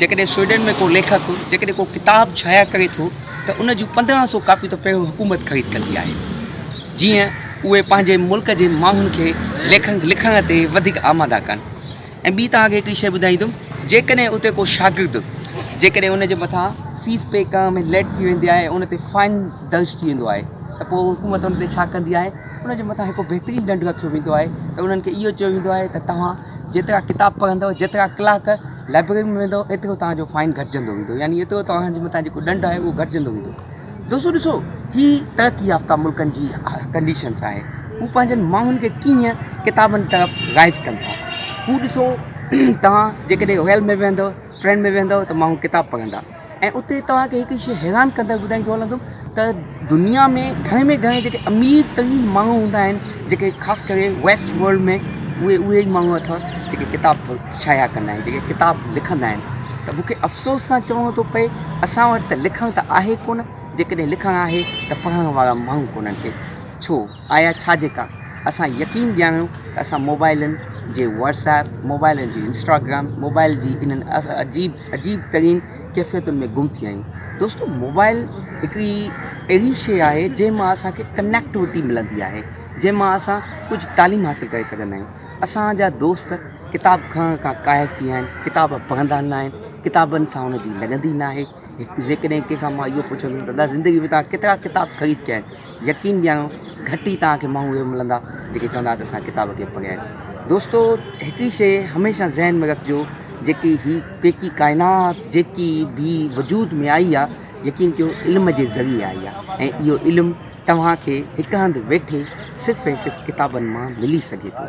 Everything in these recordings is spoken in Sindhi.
جيڪڏهن سوئيڊن ۾ ڪو ليکڪ جيڪڏهن ڪو ڪتاب شايع ڪري ٿو ته ان جون پندرهن سو ڪاپيون ته پهريون حڪومت خريد ڪندي آهي جيئن اهي پنهنجي ملڪ جي ماڻهن کي ليکڪ لکڻ تي وڌيڪ آماده ڪن ۽ ٻي توهان کي هڪڙي شيء ٻڌائيندم جيڪڏهن اتي ڪو شاگرد جيڪڏهن ان جي مٿان فيس پي ڪرڻ ۾ ليٽ ٿي ويندي آهي ان تي فائن درج ٿي ويندو آهي ته پوء حڪومت ان تي ڇا ڪندي آهي ان جي مٿان هڪ بهترين ڏنڊ رکيو ويندو آهي ته انهن کي اهو چيو ويندو آهي ته توهان جيترا ڪتاب پڙهندو جيترا ڪلاڪ لائبرري ۾ ويندؤ ايترو توهان جو فائن گهٽجندو ويندو يعني ايترو توهان جي مٿان جيڪو ڏنڊ آهي اهو گهٽجندو ويندو دوستو ڏسو هي ترقي يافته ملڪن جي ڪنڊيشنس آهي هو پنهنجن ماڻهن کي ڪيئن ڪتابن طرف رائج ڪن ٿا هو ڏسو توهان جيڪڏهن ريل ۾ ويهندؤ ٽرين ۾ ويهندؤ ته ماڻهو ڪتاب پڙهندا ۽ اتي توهان کي هڪ شيء حيران ڪندڙ ٻڌائيندو هلندم ته دنيا ۾ گهڻي ۾ گهڻي جيڪي امير ترين ماڻهو هوندا آهن جيڪي خاص ڪري ويسٽ ورلڊ ۾ اهي اهي ئي ماڻهو اٿئو جيڪي ڪتاب شايع ڪندا آهن جيڪي ڪتاب لکندا آهن ته مونکي افسوس سان چوڻو ٿو پئي اسان وٽ ته لکڻ ته آهي ڪونه جيڪڏهن لکڻ آهي ته پڙهڻ وارا ماڻهو ڪونه ڪي ڇو آيا ڇا جيڪا اسان يقين ڄاڻيو ته اسان موبائلن جي واٽس ايپ موبائلن جي انسٽاگرام موبائل جي انهن عجيب عجيب ترين ڪيفيتن ۾ گم ٿي ويا آهيون دوستو موبائل هڪڙي اهڙي شيء آهي جنهن مان اسانکي ڪنيڪٽوٽي ملندي آهي جنهن مان اسان ڪجهه تعليم حاصل ڪري سگهندا آهيون اسان جا دوست ڪتاب کڻڻ کان قاهر ٿي ويا آهن ڪتاب پڙهندا نه آهن ڪتابن سان انهن جي لڳندي نه آهي جيڪڏهن ڪنهن کان مان اهو پڇندم ته الله زندگي ۾ توهان ڪيترا ڪتاب خريد ڪيا آهن؟ يقين ڏياريو گهٽ ئي توهان کي ماڻهو اهڙا ملندا جيڪي چوندا ته اسان ڪتاب ڪي پڙهيا آهن. دوستو هڪ ئي شيء هميشه ذهن ۾ رکجو جيڪي هي پيڪي ڪائنات جيڪي به وجود ۾ آئي آهي يقين ڪيو علم جي ذريعي آئي آهي ۽ اهو علم توهان کي هڪ هنڌ ويٺي صرف ۽ صرف ڪتابن مان ملي سگهي ٿو.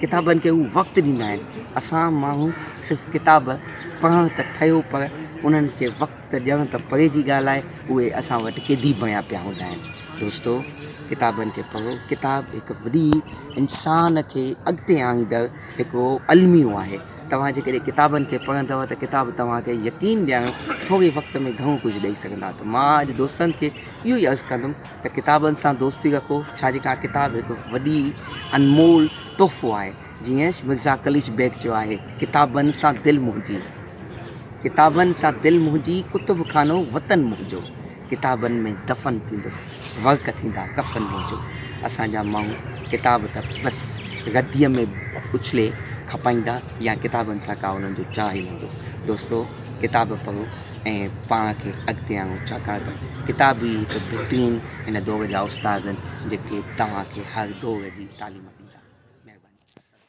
ڪتابن کي هو وقت ڏيندا آهن. اسان ماڻهو صرف ڪتاب پڙهڻ ته ٺهيو پر انهن کي وقت ته ڏيڻ ته پري جي ڳالهه آهي اهي اسان وٽ قيدي بڻيا پيا هوندا آهن. دوستو ڪتابن کي پڙهو ڪتاب هڪ وڏي انسان کي اڳتي آڻيندڙ هڪڙو الميو آهي. توهان جيڪڏهن ڪتابن کي پڙهندؤ ته ڪتاب توهان کي يقين ڏيارڻ ٿوري وقت ۾ گهڻو ڪجهه ڏئي سگهندا ته مان اڄ دوستن کي اهو ئي عرض ڪندم. ته ڪتابن سان دوستي رکو ڇا جي ڪا ڪتاب هڪ وڏي انمول تحفو آهي جيئن مرزا قليچ بيگ چيو آهي ڪتابن سان دل منهنجي ڪتابن سان دل منهنجي ڪتب خانو وطن منهنجو ڪتابن ۾ دفن ٿيندس ورق ٿيندا ڪفن منهنجو اسان جا ماڻهو ڪتاب ته بس رديء ۾ اڇلي کپائيندا يا ڪتابن سان ڪا انهن جو چاهه هوندو دوستو ڪتاب پڙهو ۽ پاڻ کي اڳتي آڻو ڇاڪاڻ ته ڪتاب ئي هڪ بهترين هن دور جا استاد آهن جيڪي توهان کي هر دور جي تعليم ڏيندا. مهرباني. السلام.